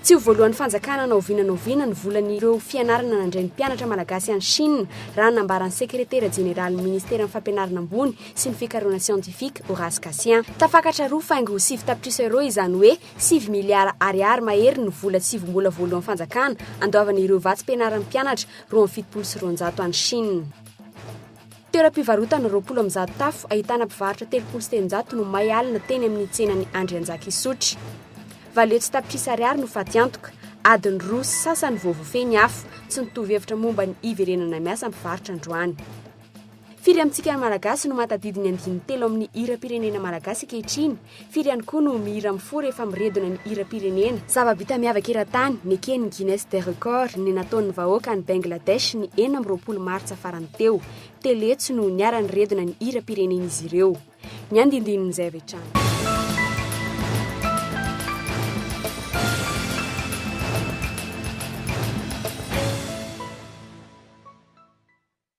Tsy ho voalohan'ny fanjakana na oviana na oviana ny volan'ireo fianarana nandray ny mpianatra malagasy any Chine, raha ny nambaran'ny sekretera jeneralin'ny ministeran'ny Fampianarana ambony sy ny fikarohana siantifika, Horace Cassien. Tafakatra roa faingo sivy tapitrisa euros izany hoe Sivy miliara Ariary mahery ny vola tsy vombola voalohan'ny fanjakana andoavana ireo vatsim-pianaran'ny mpianatra roa amby fitopolo sy roanjato any Chine. Toeram-pivarotana roapolo amby zato tafo ahitana mpivarotra telopolo sy telonjato no may alina teny amin'ny tsenan'i Andrianjakisotry. Valio tsy tapitrisa Ariary no fatiantoka, adiny roa sy sasany vao voafehy ny afo, tsy nitovy hevitra momba ny hiverenana miasa mpivarotra androany. Firy amintsika Malagasy no mahatadidy ny andininy telo amin'ny hiram-pirenena malagasy ankehitriny? Firy ihany koa no mihira mifoha rehefa miredona ny hiram-pirenena? Zava-bita miavaka eran-tany, neken'ny Guinness des Records, ny nataon'ny vahoaka any Bangladesh ny enina amby roapolo martsa farany teo. Telo hetsy no niara-niredona ny hiram-pirenen'izy ireo. Ny andinindinin'izay avy hatrany.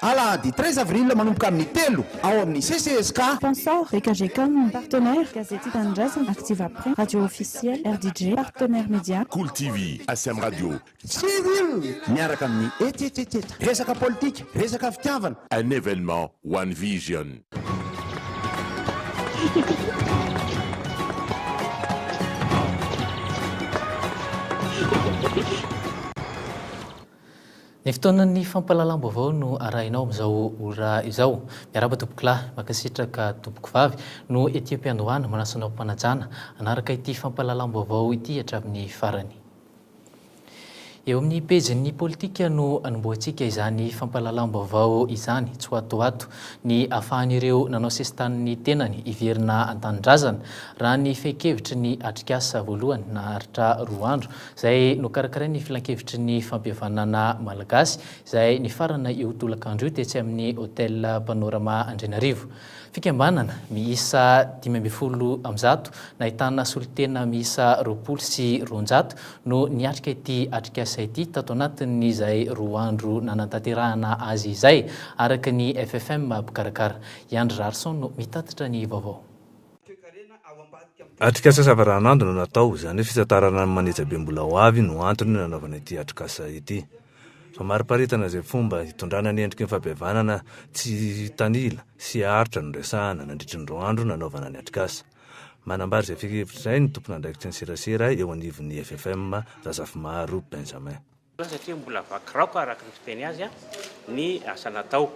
Alahady treize avril manomboka amin'ny telo ao amin'ny CCESK. Sponsors, Ekajecom, Partenaires, Gazety Tia Tanindrazana, Activaprint, Radio Officielle, RDJ, Partenaires Media. Cool TV, SM Radio. Civil, miaraka amin'ny eteteteta. Resaka politika, resaka fitiavana. Un événement One Vision. Ny fotoanan'ny fampahalalam-baovao no arahinao amin'izao ora izao. Miarahaba tompokolahy, mankasitraka tompokovavy, no ety am-piandohana manasa anao am-panajana hanaraka ity fampahalalam-baovao ity hatramin'ny farany. Eo amin'ny pejin'ny politika no anombohantsika izany fampahalalam-baovao izany, tsy ho ato ho ato ny ahafahan'ireo nanao sesitany ny tenany hiverina an-tanindrazana, raha ny fehin-kevitry ny atrikasa voalohany naharitra roa andro izay nokarakarain' ny Filankevitry ny Fampihavanana Malagasy, izay nifarana io tolakandro io tetsy amin'ny Hotel Panorama Andrianarivo. Fikambanana miisa dimy ambin'ny folo amin'ny zato, nahitana solontena miisa roapolo sy roanjato, no niatrika ity atrikasa ity tato anatin'izay roa andro nanatanterahana azy izay, araka ny FFM mpikarakara. I Andry Raharison no mitatitra ny vaovao. Atrikasa savaranando no natao, izany hoe fitantarana ny manejabe mbola ho avy no antony nanaovana ity atrikasa ity. Famariparitana izay fomba hitondrana ny endriky ny fahabevanana tsy hitanila sy haharitra no resahana nandritry ny roa andro nanaovana ny atrikasa. Manambara izay fehinkevitra izay ny tomponandraikitry ny serasera eo anivon'ny FFM, Razafimaro Benjamin. satria mbola vaky raoka araka ny fiteny azy ny asa natao.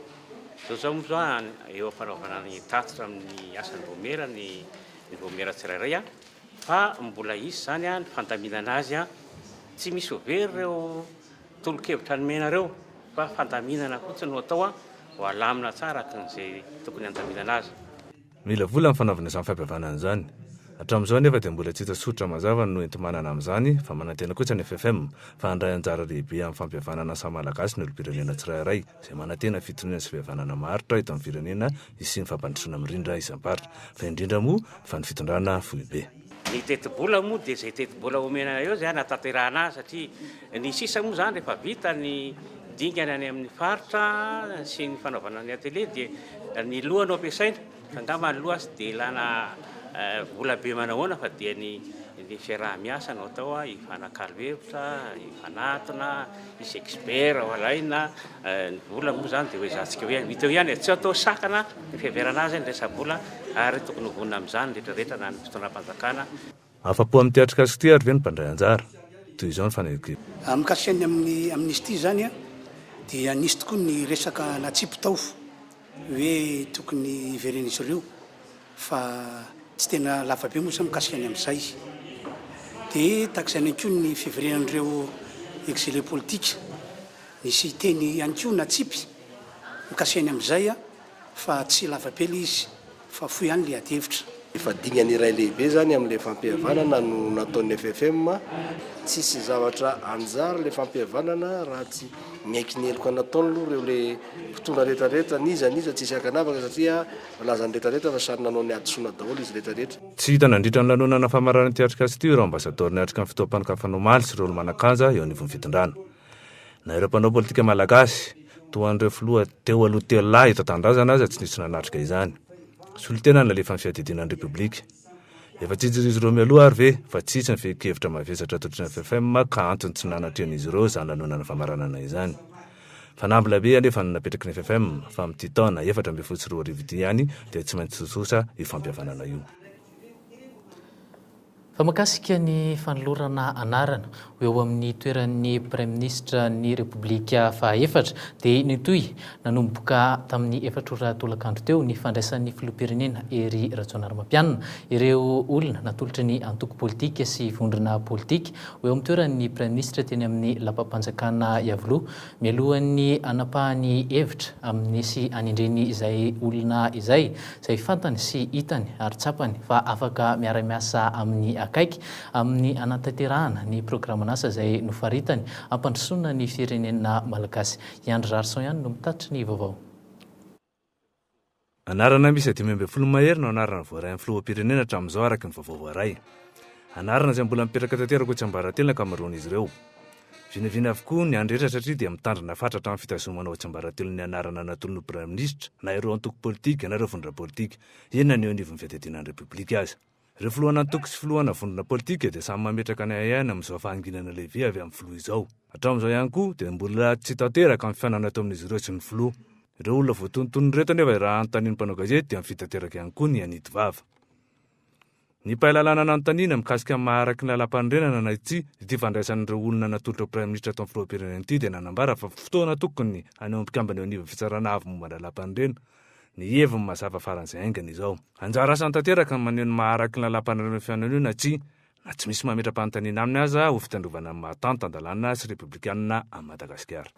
Zao zao moa zao eo am-panaovana ny tatitra amin'ny asan'ny vaomiera ny ny vaomiera tsirairay fa mbola hisy izany ny fandaminana azy. Tsy misy ho very ireo tolo-kevitra nomenareo fa fandaminana fotsiny no atao ho alamina tsara araka izay tokony handaminana azy. Mila vola ny fanaovana izany fampihavanana izany. Hatramin'izao anefa dia mbola tsy hita soritra mazava ny noenti-manana amin'izany fa manantena kosa ny FFM fa handray anjara lehibe amin'ny fampihavanana ny samy Malagasy ny olom-pirenena tsirairay izay manantena fitoniana sy fihavanana maharitra eto amin'ny firenena hisian'ny fampandrosoana mirindra isam-paritra fa indrindra moa fa ny fitondrana foibe Ny tetibola moa dia izay tetibola omena anareo izay hanatanterahana azy satria ny sisa moa izany rehefa vita ny dingana any amin'ny faritra sy ny fanaovana ny atelier dia ny loha no ampiasaina fa angamba ny loha tsy dia ilana vola be manahoana fa dia ny ny fiaraha-miasa no atao hifanakalo hevitra, hifanatona. Misy expert ao alaina ny vola moa izany dia hoezahantsika hoe hita eo ihany e, tsy atao sakana ny fiheverana azy ny resa-bola ary tokony ho vonona amin'izany ny rehetra rehetra na ny fitondram-panjakana, Afa-po amin'ny teatrikasa ity ary ve ny mpandray anjara? Toy izao ny fanekeko. Mikasika ny amin'ny amnistie izany dia nisy tokoa ny resaka natsipy tao hoe tokony hiveren'izy ireo. fa tsy tena lava be moa izany mikasika ny amin'izay dia tahaka izany ihany koa ny fiverenan'ireo exilés politiques nisy teny ihany koa natsipy mikasika ny amin'izay fa tsy lava be ilay izy fa fohy ihany ilay adihevitra. Efa dingana iray lehibe izany amin'ilay fampihavanana no nataon'ny FFM, tsisy zavatra anjara ilay fampihavanana raha tsy miaiky ny heloka nataony aloha ireo ilay mpitondra rehetra rehetra n'iza n'iza tsisy ankanavaka satria Nalaza ny rehetra rehetra fa samy nanao ny hadisoana daholo izy rehetra rehetra. Tsy hita nandritra ny lanonana famaranan'ny Teatrika Asty ireo ambasadaoro niatrika ny fotoam-panokafana omaly sy ireo olo-manan-kanja eo anivon'ny fitondrana. Na ireo mpanao politika malagasy, toa an'ireo filoha teo aloha telo lahy eto an-tanindrazana aza tsy nisy nanatrika izany. Solontena ny nalefan'ny fiadidiana ny Repoblika. Efa tsijirizy ireo mialoha ary ve fa tsitsy ny fehin-kevitra mavesatra atolotra ny FFM ka antony tsy nanatrehan'izy ireo izany lanonana famaranana izany. Fanamby lehibe anefa no napetraky ny FFM fa amin'ity taona efatra ambin'ny folo sy roa arivo ity ihany dia tsy maintsy tsotsotra io fampihavanana io. Fa makasika ny fanolorana anarana ho eo amin'ny toeran'ny Praiminisitra ny Repoblika fahaefatra dia nitohy nanomboka tamin'ny efatra ora tolakandro teo ny fandraisan'ny Filoham-pirenena Hery Rajaonarimampianina ireo olona natolotry ny antoko politika sy vondrona politika Ho eo amin'ny toerany ny Praiminisitra teny amin'ny lapam-panjakana Iavoloha mialohan'ny hanapahany hevitra amin'ny sy hanendreny izay olona izay, izay fantany sy hitany ary tsapany fa afaka miara-miasa aminy akaiky amin'ny hanatanterahana ny programan'asa izay nofaritany hampandrosoana ny firenena malagasy. I Andry Rarison ihany no mitatitra ny vaovao. Anarana miisa dimy ambin'ny folo mahery no anarana voaray amin'ny filoham-pirenena hatramin'izao araka ny vaovao voaray. Anarana izay mbola mipetraka tanteraka ho tsiambaratelo ny ankamaroan'izy ireo. Vinavina avokoa ny any rehetra satria dia mitandrina fatratra amin'ny fitazomana ho tsiambaratelon'ny anarana natolon'ny Praiminisitra na ireo antoko politika na ireo vondrona politika, inona ny eo anivon'ny fiadidiana ny Repoblika aza. Ireo filohan'antoko sy filohana vondrona politika dia samy mametraka ny ahiahiny amin'izao fahanginana lehibe avy amin'ny filoha izao. Hatramin'izao ihany koa dia mbola tsy tanteraka ny fihaonana eto amin'izy ireo sy ny filoha. Ireo olona voatonontonony ireto anefa raha anontanian'ny mpanao gazety dia mifidy tanteraka ihany koa ny hanidy vava. Ny mpahay lalàna nanontaniana mikasika ny maha araky ny lalàmpanorenana na tsia ity fandraisan'ireo olona natolotra ho praiminisitra atao ny filoham-pirenena ity dia nanambara fa fotoana tokony hanehoan'ny mpikambana eo anivon'ny Fitsarana Avo momba ny Lalàmpanorenana Ny heviny mazava faran'izay haingana izao, Anjara asany tanteraka ny maneho ny maha araky ny Lalàm-panarenana ny fihaonana io na tsia, na tsy misy mametra-panontaniana aminy aza ho fitandrovana ny maha tanty tan-dalàna sy repoblikanina an'i Madagasikara.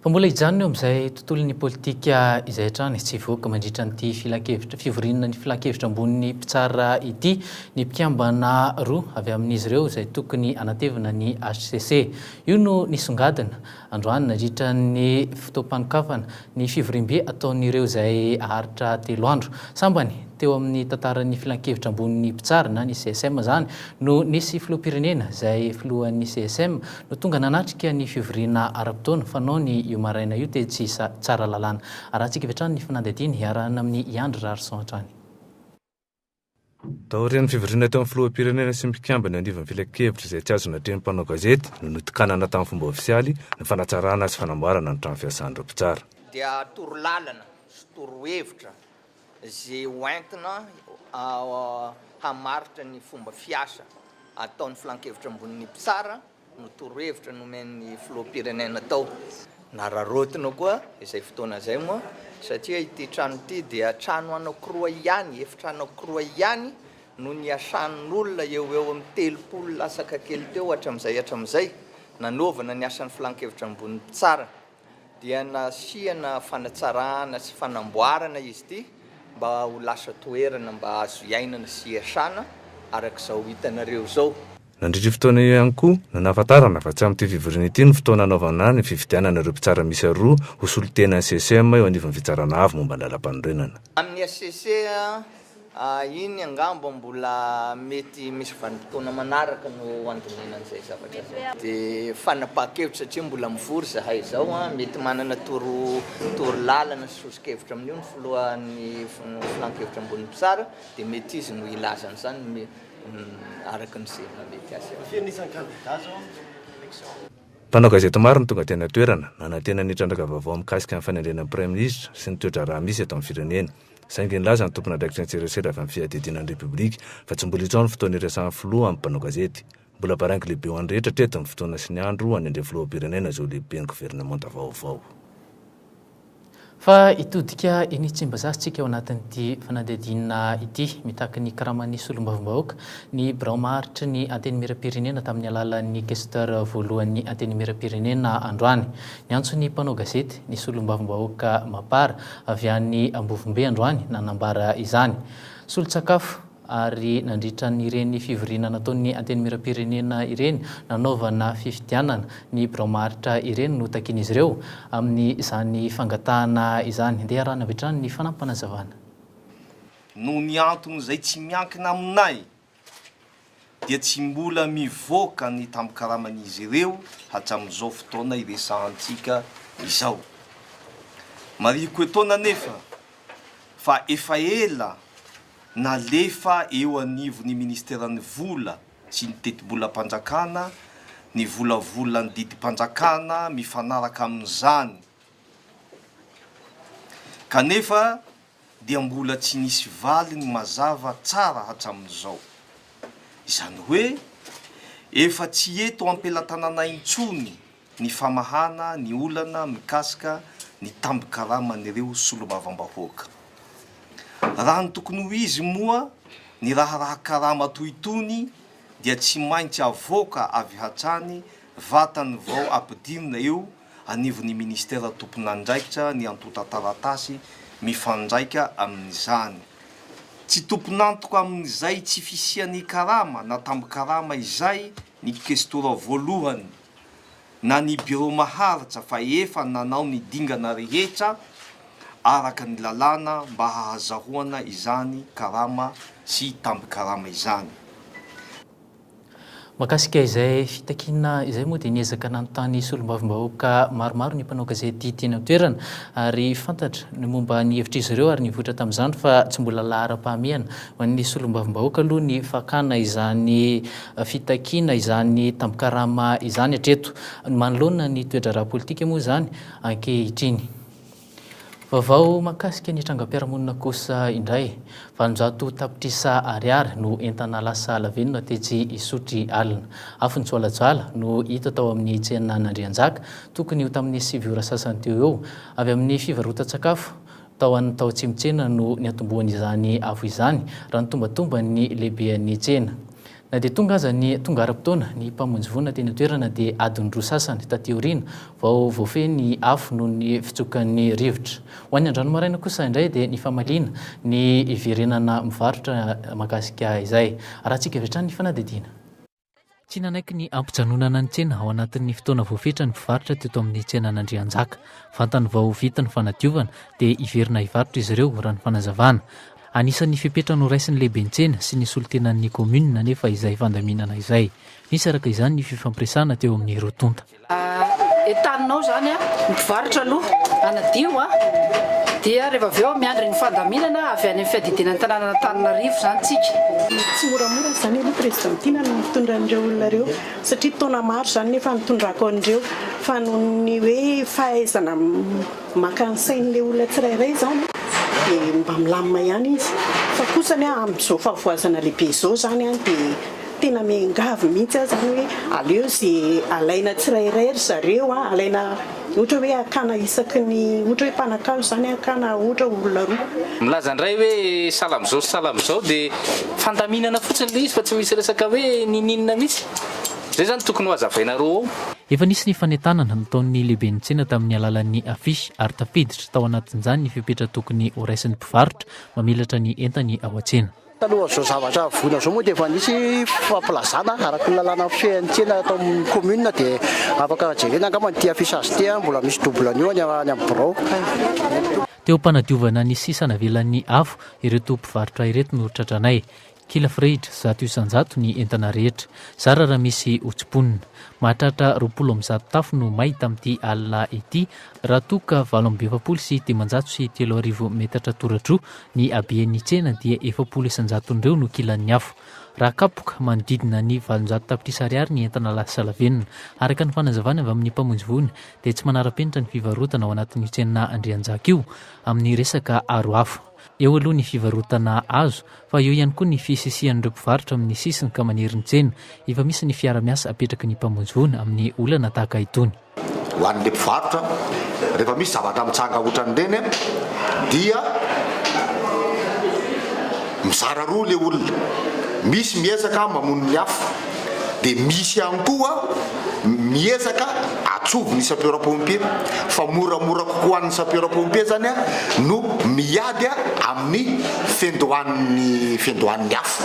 Fa mbola hijanona eo amin'izay tontolon'ny politika izay hatrany tsy hivoaka mandritra an'ity filankevitra fivoriana ny Filankevitra ambonin'ny mpitsara ity ny mpikambana roa avy amin'izy ireo izay tokony hanatevina ny hcc. Io no nisongadina Androany, nandritra ny fotoam-panokafana ny fivoriambe ataon'ireo izay haharitra telo andro. Sambany teo amin'ny tantaran'ny Filankevitra Ambonin'ny Mpitsara na ny CSM izany no nisy filoham-pirenena izay filohan'ny CSM no tonga nanatrika ny fivoriana ara-potoana fanaony io maraina io tetsy Tsaralalàna. Arahantsika avy hatrany ny fanadihadiana iarahana amin'i Andry Rarison hatrany. Taorian'ny fivoriana teo amin'ny filoham-pirenena sy ny mpikambana eo anivon'ny filankevitra izay tsy azo natrehin'ny mpanao gazety no nitokanana tamin'ny fomba ofisialy ny fanatsarana sy fanamboarana ny trano fiasan'ireo mpitsara. dia torolalana sy torohevitra izay ho entina hamaritra ny fomba fiasa ataon'ny filankevitra ambonin'ny mpitsara. no torohevitra nomen'ny filoham-pirenena tao. Nararaotina koa izay fotoana izay moa satria ity trano ity dia trano anankiroa ihany, efitra anankiroa ihany no niasan'olona eo ho eo amin'ny telopolo lasaka kely teo hatramin'izay hatramin'izay nanaovana ny asan'ny Filan-kevitra Ambony Mpitsara. dia nasiana fanatsarana sy fanamboarana izy ity mba ho lasa toerana mba azo hiainana sy hiasana araka izao hitanareo izao. Nandritra io fotoana io ihany koa no nahafantarana fa tsy amin'ity fivoriana ity no fotoana hanaovana ny fifidianana ireo mpitsara miisa roa ho solontenan'ny CCEM eo anivon'ny Fitsarana Avo momba ny Lalàmpanorenana. Amin'ny hcc Iny angamba mbola mety misy vanim-potoana manaraka no handinihana an'izay zavatra izay. Dia fanapahan-kevitra satria mbola mivory izahay izao. Mety manana toro toro lalana sy soso-kevitra amin'io ny filohan'ny filan-kevitra ambonin'ny mpitsara dia mety izy no hilaza an'izany araka ny izay mahamety azy avy eo. Mpanao gazety maro no tonga teny an-toerana, nanantena ny trandraka vaovao mikasika ny fanendrena ny Praiminisitra sy ny toe-draharaha misy eto amin'ny firenena. Saingy nilaza ny tompon'andraikitra an-tserasera avy amin'ny Fiadidiana ny Repoblika fa tsy mbola itsao ny fotoana iresahan'ny filoha amin'ny mpanao gazety. Mbola baraingo lehibe ho an'ny rehetra hatreto ny fotoana sy ny andro hanendry ny filoham-pirenena izao lehiben'ny governemanta vaovao. Fa hitodika eny Tsimbazaza isika ao anatin'ity fanadihadiana ity. Mitaky ny karaman'ny solombavambahoaka ny birao maharitry ny Antenimierampirenena tamin'ny alalan'ny Questeur voalohan'ny Antenimierampirenena androany. Niantso ny mpanao gazety ny solombavambahoaka Mapar avy any Ambovombe androany nanambara izany. Solon-tsakafo ary nandritra ireny fivoriana nataon'ny Antenimierampirenena ireny nanaovana fifidianana ny birao maharitra ireny no takian'izy ireo amin'izany fangatahana izany. Andeha iarahana avy hatrany ny fanampim-panazavana. Noho ny antony izay tsy miankina aminay dia tsy mbola mivoaka ny tambin-karaman'izy ireo hatramin'izao fotoana iresahantsika izao. Marihiko etoana anefa fa efa ela nalefa eo anivon'ny Ministeran'ny Vola sy ny Tetibolam-panjakana ny volavolan'ny didim-panjakana mifanaraka amin'izany, kanefa dia mbola tsy nisy valiny mazava tsara hatramin'izao. Izany hoe efa tsy eto am-pelatananay intsony ny famahana ny olana mikasika ny tambin-karaman'ireo solombavambahoaka. Raha ny tokony ho izy moa ny raharaha karama toy itony dia tsy maintsy avoaka avy hatrany vatany vao ampidinina eo anivon'ny minisitera tompon'andraikitra ny antontan-taratasy mifandraika amin'izany. Tsy tompon'antoka amin'izay tsy fisian'ny karama na tambin-karama izay ny Kestora voalohany na ny Birao maharitra fa efa nanao ny dingana rehetra araka ny lalàna mba hahazahoana izany karama sy tambin-karama izany. Mahakasika izay fitakiana izay moa dia niezaka nanontany solombavambahoaka maromaro ny mpanao gazety teny an-toerana ary fantatra ny momba ny hevitr'izy ireo ary nivoitra tamin'izany fa tsy mbola laharam-pahamehana ho an'ny solombavambahoaka aloha ny fakana izany fitakiana izany tambin-karama izany hatreto. Manoloana ny toe-draharaha politika moa izany ankehitriny. Vaovao mahakasika ny trangam-piarahamonina kosa indray. Valonjato tapitrisa ariary no entana lasa lavenona tetsy Isotry alina. Afon'ny joalajoala no hita tao amin'ny tsena an'Andrianjaka, tokony ho tamin'ny sivy ora sasany teo eo. Avy amin'ny fivarotan-tsakafo tao an tao Tsimotsena no niantombohan'izany afo izany, raha ny tombantomban'ny lehibean'ny tsena. Na dia tonga aza ny tonga ara-potoana, ny Mpamonjy vonona teny an-toerana dia adiny roa sasany taty aoriana vao voafehy ny afo noho ny fitsokan'ny rivotra. Ho an'ny androany maraina kosa indray dia ny famaliana ny hiverenana mivarotra mahakasika izay. Arahantsika avy hatrany ny fanadihadiana. Tsy nanaiky ny hampijanonana ny tsena ao anatin'ny fotoana voafetra ny mpivarotra teto amin'ny tsenan'Andrianjaka. Vantany vao vita ny fanadiovana dia hiverina hivarotra izy ireo, raha ny fanazavana. Anisan'ny fepetra noraisin'ny lehiben-tsena sy ny solontenan'ny kaominina anefa izay fandaminana izay. Nisy araka izany ny fifampiresahana teo amin'ny roa tonta. Entaninao izany ny mpivarotra aloha hanadio dia rehefa avy eo miandry ny fandaminana avy any amin'ny fiadidiana ny tanànan'Antananarivo izany isika. Tsy moramora izany aloha Président Tiana no mitondra an'ireo olona ireo satria taona maro izany no efa nitondrako an'ireo fa noho ny hoe fahaizana Maka ny sain'ilay olona tsirairay izany dia mba milamina ihany izy. Fa kosa ny ahy amin'izao fahavoazana lehibe izao izany dia tena miangavy mihitsy aho izany hoe aleo izay alaina tsirairay ry zareo, alaina ohatra hoe hakana isaky ny ohatra hoe mpanankazo izany hakana ohatra olona roa. Milaza indray hoe sahala amin'izao sy sahala amin'izao dia fandaminana fotsiny ilay izy fa tsy misy resaka hoe ninininina mihitsy. Izay izany tokony ho hazavainareo ao. Efa nisy ny fanentanana nataon'ny lehiben'ny tsena tamin'ny alalan'ny afisy ary tafiditra tao anatin'izany ny fepetra tokony horaisin'ny mpivarotra mamelatra ny entany ao an-tsena. Talohan'izao zavatra voina izao moa dia efa nisy fampilazana araka ny lalàna mifehy ny tsena eto amin'ny commune dia afaka jerena angamba an'ity affichage ity an, mbola misy double an'io any amin'ny birao. Teo am-panadiovana ny sisa navelan'ny afo ireto mpivarotra ireto no tratranay. Kila Freid, zato isan-jato ny entana rehetra. Zara raha misy ho tsimponina. Mahatratra roapolo amby zato tafo no may tamin'ity alina ity raha toa ka valo amby efapolo sy dimanjato sy telo arivo metatra toradroa ny haben'ny tsena dia efapolo isan-jaton'ireo no kilan'ny afo. Raha kapoka, manodidina ny valonjato tapitrisa ariary ny entana lasalavenona. Araka ny fanazavana avy amin'ny mpamonjy voina dia tsy manara-penitra ny fivarotana ao anatin'io tsena Andrianjaka io amin'ny resaka aro afo. Eo aloha ny fivarotana azo fa eo ihany koa ny fisisihan'ireo mpivarotra amin'ny sisiny ka manery ny tsena. Efa misy ny fiara-miasa apetraky ny mpamonjy voina amin'ny olana tahaka itony. Ho an'ilay mpivarotra, rehefa misy zavatra mitsanga hoatran'ireny dia mizara roa ilay olona, misy miezaka mamono ny afo, dia misy ihany koa miezaka atsovo ny sapeur pompier fa moramora kokoa an'ny sapeur pompier zany a no miady a amin'ny fendohan'ny fendohan'ny afo.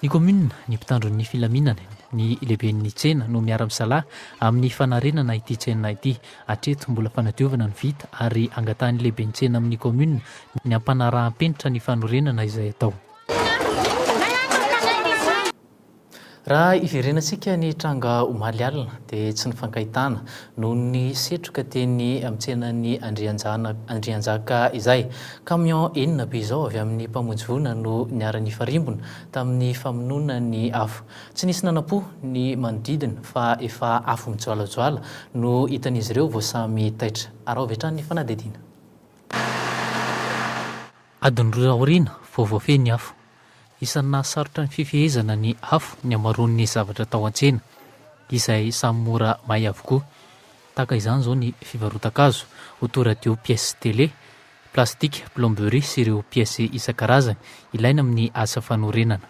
Ny kaominina, ny mpitandro ny filaminana, ny lehiben'ny tsena no miara-misalahy amin'ny fanarenana ity tsena ity. Hatreto, mbola fanadiovana no vita ary angatahan'ny lehiben'ny tsena amin'ny kaominina ny ampanaraham-penitra ny fanorenana izay atao. Raha hiverenantsika ny tranga omaly alina dia tsy nifankahitana noho ny setroka teny amin'ny tsenan'ny Andrianjana Andrianjaka izay. Camion enina be izao avy amin'ny mpamonjy voina no niara-nifarimbona tamin'ny famonoana ny afo. Tsy nisy nanampo ny manodidina fa efa afo mijoalajoala no hitan'izy ireo vao samy taitra. Araho avy hatrany ny fanadihadiana. Adiny roa aoriana vao voafehy ny afo. Isan'ny nahasarotra ny fifehezana ny afo ny hamaroan'ny zavatra tao an-tsena, izay samy mora may avokoa. Tahaka izany izao ny fivarotan-kazo, auto radio pièces télé, plastika, plomberie sy ireo pièces isan-karazany ilaina amin'ny asa fanorenana.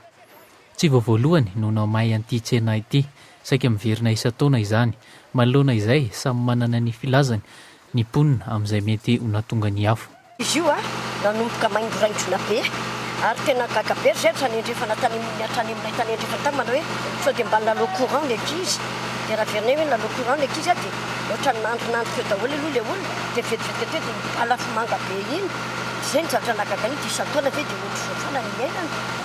Tsy vao voalohany no namahy an'ity tsena ity. Saika miverina isan-taona izany. Manoloana izay, samy manana ny filazany ny mponina amin'izay mety ho nahatonga ny afo. Izy io nanomboka maingoraingona be ary tena gaga be ry zay hatrany andrefana tany amin'ny hatrany amin'ilay tany andrefana tany manao hoe sao dia mba lalo courant ny ankizy dia raha averinay hoe lalo courant ny ankizy dia ohatran'ny nandrinandry teo daholo aloha ilay olona dia vetivety teo dia ny ala afomanga be iny izay ny zavatra nahagaga an'io dia isan-taona ve dia ohatr'izao foana ny iainana.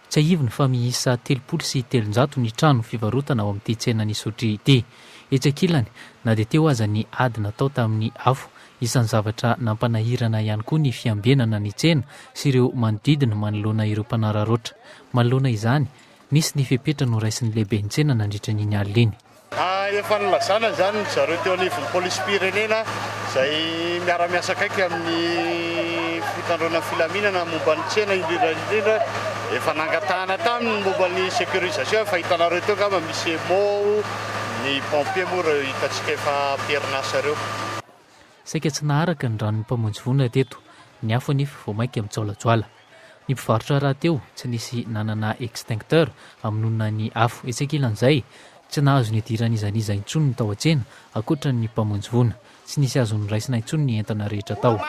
Tsiahivina fa miisa telopolo sy telonjato ny trano fivarotana ao amin'ity tsenan'i Isotry ity. Etsy ankilany, na dia teo aza ny ady natao tamin'ny afo, isan'ny zavatra nampanahirana ihany koa ny fiambenana ny tsena sy ireo manodidina manoloana ireo mpanararaotra. Manoloana izany, nisy ny fepetra noraisin'ny lehiben'ny tsena nandritra an'iny alina iny. Efa nilazana izany ry zareo teo anivon'ny polisim-pirenena izay miara-miasa akaiky amin'ny fitandroana ny filaminana momba ny tsena indrindra indrindra. Efa nangatahana taminy ny momba ny sécurisation, efa hitanareo teo angamba misy emo, ny pompiers moa ireo hitantsika efa am-perinasa ireo. Saika tsy naharaka ny ranon'ny Mpamonjy vonona teto ny afo anefa vao mainka mijaolajoala. Ny mpivarotra rahateo tsy nisy nanana extincteur hamonoana ny afo. Etsy ankilan'izay, tsy nahazo nidiran'ny iza n'iza intsony ny tao an-tsena ankoatra ny Mpamonjy voina. Tsy nisy azo noraisina intsony ny entana rehetra tao.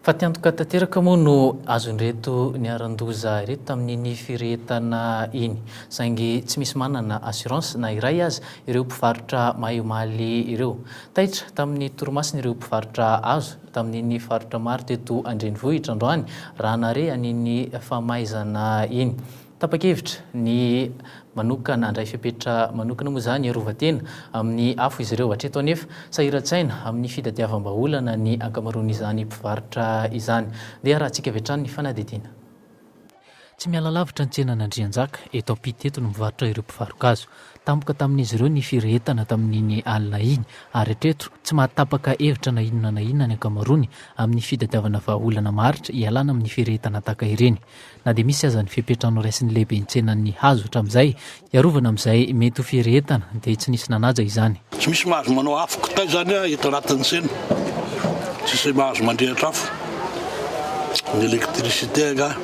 Fa te antoka tanteraka moa no azon'ireto niharan-doza ireto tamin'iny firehetana iny. Saingy tsy misy manana assurance na iray aza ireo mpivarotra mahay omaly ireo. Taitra tamin'ny torimasony ireo mpivarotra hazo tamin'iny faritra maro teto an-drenivohitra androany raha nahare an'iny famaizana iny. Tapa-kevitra ny manokana handray fepetra manokana moa izany hiarova tena amin'ny afo izy ireo. Hatreto anefa, sahiran-tsaina amin'ny fitadiavam-bahaolana ny ankamaroan'izany mpivarotra izany. Ndeha harahantsika avy hatrany ny fanadihadiana. Tsy miala lavitra ny tsenan'Andrianjaka, eto Ampita eto, no mivarotra ireo mpivaro-gazo. Tampoka tamin'izy ireo ny firehetana tamin'iny alina iny, ary hatreto, tsy mahatapaka hevitra na inona na inona ny ankamaroany amin'ny fitadiavana vahaolana maharitra hialana amin'ny firehetana tahaka ireny. Na dia misy aza ny fepetra noraisin'ny lehiben'ny tsenan'ny hazo hatramin'izay hiarovana amin'izay mety ho firehetana dia tsy nisy nanaja izany. Tsy misy mahazo manao afo kitay izany eto anatin'ny tsena. Tsisy mahazo mandrehitra afo. Ny électricité angaha.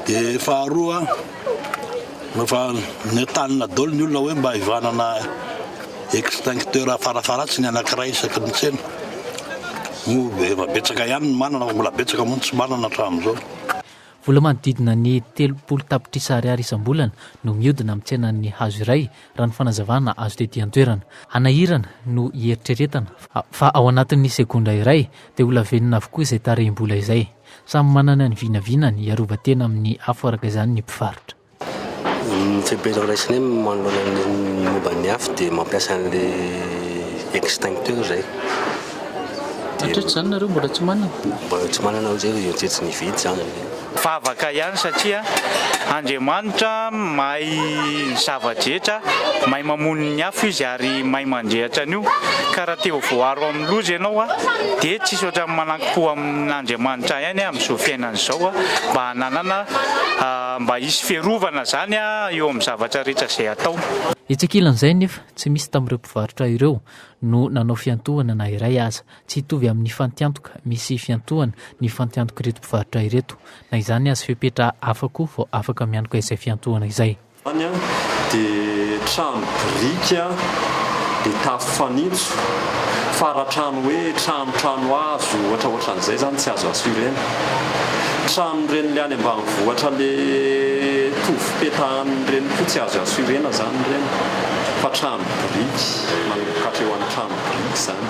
Dia faharoa. Efa nentanina daholo ny olona hoe mba hivanana extincteur farafaharatsiny anankiray isaky ny tsena. Moa efa betsaka ihany ny manana fa mbola betsaka moa ny tsy manana hatramin'izao. Vola manodidina ny telopolo tapitrisa ariary isam-bolana no mihodina amin'ny tsenan'ny hazo iray, raha ny fanazavana azo tety an-toerana. Hanahirana no hieritreretana fa ao anatin'ny segondra iray dia holavenona avokoa izay tarehim-bola izay. Samy manana ny vinavinany hiarovan-tena amin'ny afo araka izany ny mpivarotra. Ny fepetra raisina hoe manoloana ny momba ny afo dia mampiasa an'ilay extincteur izay. Hatreto izany nareo mbola tsy manana? Mbola tsy manana hoy zay, tsy tsy nividy izany. Vavaka ihany satria Andriamanitra mahay ny zava-drehetra, mahay mamono ny afo Izy ary mahay mandrehitra an'io ka raha te ho voaro amin'ny loza ianao dia tsy hisy ohatran'ny manankim-po Amin'Andriamanitra ihany amin'izao fiainana izao mba hananana mba hisy fiarovana izany eo amin'ny zavatra rehetra izay atao. Etsy ankilan'izay anefa, tsy misy tamin'ireo mpivarotra ireo no nanao fiantohana na iray aza. Tsy hitovy amin'ny fantiantoka misy fiantohana ny fantiantok'ireto mpivarotra ireto. Na izany aza, fepetra hafa koa vao afaka miantoka izay fiantohana izay. Izany dia trano biriky be tafo fanitso, faratrano hoe trano trano hazo ohatra ohatra an'izay izany tsy azo assurena. Trano ireny le any ambanivohitra le tovy petahan'ny ireny koa tsy azo assurena izany ireny fa trano biriky manomboka hatreo any trano biriky izany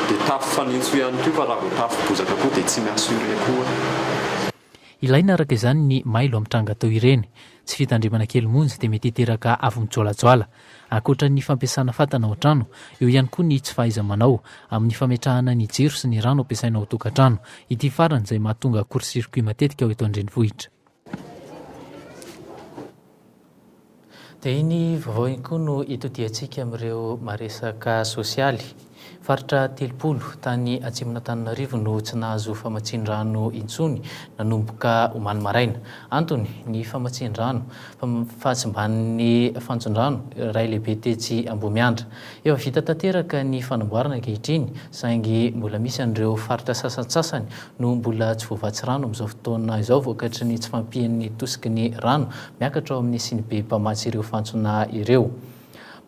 dia tafo fanitso ihany koa fa raha vao tafo bozaka koa dia tsy mi-assurer koa. Ilaina araka izany ny mailo amin'ny tranga toy ireny. Tsy fitandremana kely monja dia mety hiteraka afo mijoalajoala. Ankoatra ny fampiasana fatana ao an-trano, eo ihany koa ny tsy fahaiza-manao amin'ny fametrahana ny jiro sy ny rano ampiasaina ao an-tokantrano. Ity farany izay mahatonga court-circuit matetika ao eto an-drenivohitra. Dia iny vaovao iny koa no itodihantsika amin'ireo maresaka sosialy. Faritra telopolo tany atsimon'Antananarivo no tsy nahazo famatsian-drano intsony nanomboka omaly maraina. Antony, ny famatsian-drano, fahasimban'ny fantsondrano iray lehibe tetsy Ambohimiandra. Efa vita tanteraka ny fanamboarana ankehitriny saingy mbola misy an'ireo faritra sasantsasany no mbola tsy voavatsy rano amin'izao fotoana izao vokatry ny tsy fampian'ny tosiky ny rano miakatra ao amin'ny sinibe mpamatsy ireo fantsona ireo.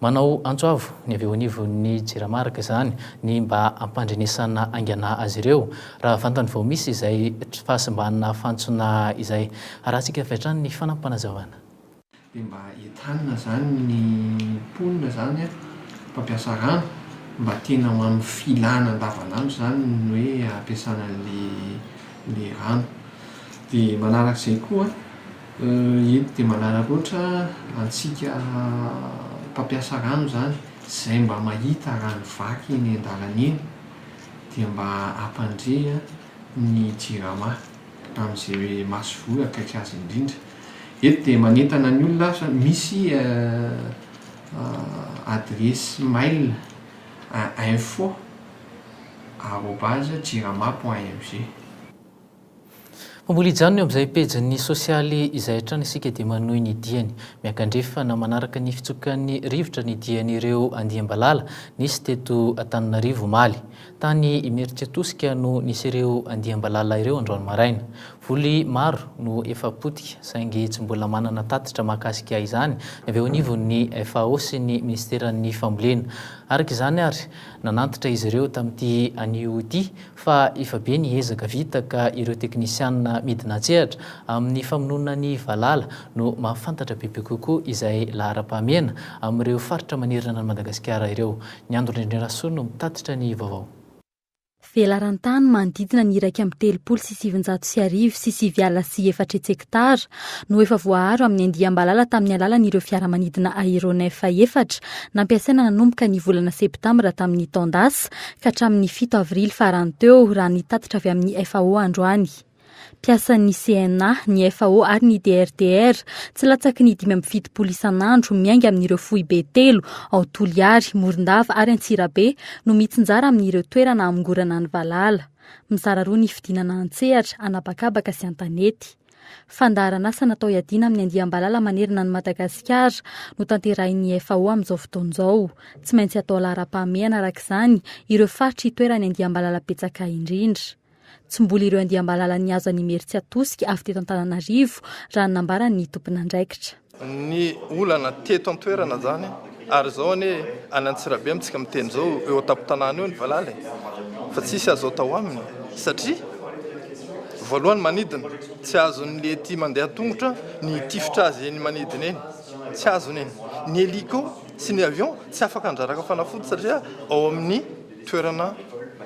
Manao antso avo ny avy eo anivon'ny Jirama araka izany ny mba hampandrenesana haingana azy ireo raha vantany vao misy izay fahasimbana fantsona izay. Harahantsika avy hatrany ny fanapanazavana. Dia mba entanina izany ny mponina izany an, mpampiasa rano, mba tena ho amin'ny filana andavanandro izany ny hoe hampiasana an'ilay rano. Dia manaraka izay koa an, eto dia manaraka ohatra antsika mpampiasa rano izany, izay mba mahita rano vaky eny an-dalana eny dia mba hampandre ny Jirama amin'izay masoivoho akaiky azy indrindra. Eto dia manentana ny olona aho sao misy adiresy mail info arobase jirama point mg. Fa mbola hijanona eo amin'izay pejin'ny sosialy izay hatrany isika dia manohy ny diany. Miankandrefy na manaraka ny fitsokan'ny rivotra ny dian'ireo andiam-balala nisy teto Antananarivo omaly. Tany Imeritsiatosika no nisy ireo andiam-balala ireo androany maraina. Voly maro no efa potika saingy tsy mbola manana tatitra mahakasika izany avy eo anivon'ny FAO sy ny Minisiteran'ny Fambolena. Araka izany ary, nanantitra izy ireo tamin'ity anio ity fa efa be ny ezaka vita ka ireo teknisianina midina an-tsehatra amin'ny famonoana ny valala no mahafantatra bebe kokoa izay laharam-pahamehana amin'ireo faritra manerana an'i Madagasikara ireo. Ny Andron'Indrindra Rasoa no mitatitra ny vaovao. Velaran-tany manodidina ny iraika amby telopolo sy sivinjato sy arivo sy sivy ala sy efatra hetsektara no efa voaaro amin'ny andiam-balala tamin'ny alalan'ireo fiaramanidina aéronef efatra nampiasaina nanomboka ny volana septambra tamin'ny taon-dasa ka hatramin'ny fito avrily farany teo, raha ny tatitra avy amin'ny FAO androany. mpiasan'ny CNA, ny FAO ary ny DRDR. Tsy latsaky ny dimy amby fitopolo isan'andro miainga amin'ireo foibe telo ao Toliary, Morondava ary Antsirabe no mitsinjara amin'ireo toerana hamongorana ny valala. Mizara roa ny fidinana an-tsehatra, an'habakabaka sy an-tanety. Fandaharan'asa natao hiadiana amin'ny andiam-balala manerana an'i Madagasikara no tanterahin'ny FAO amin'izao fotoana izao. Tsy maintsy atao laharam-pahamehana araka izany ireo faritra itoeran'ny andiam-balala betsaka indrindra. Tsy mbola ireo andiam-balala nihazo an'Imerintsiatosika avy teto Antananarivo, raha ny nambaran'ny tomponandraikitra. Ny olana teto an-toerana izany ary izao anie any Antsirabe amintsika miteny izao eo an-tampon-tanàna eo ny valala e! fa tsisy azo atao aminy satria voalohany manidina, tsy azon'ny ety mandeha an-tongotra ny hitifitra azy eny manidina eny, tsy azony eny, ny hélico sy ny avion tsy afaka handraraka fanafody satria ao amin'ny. Toerana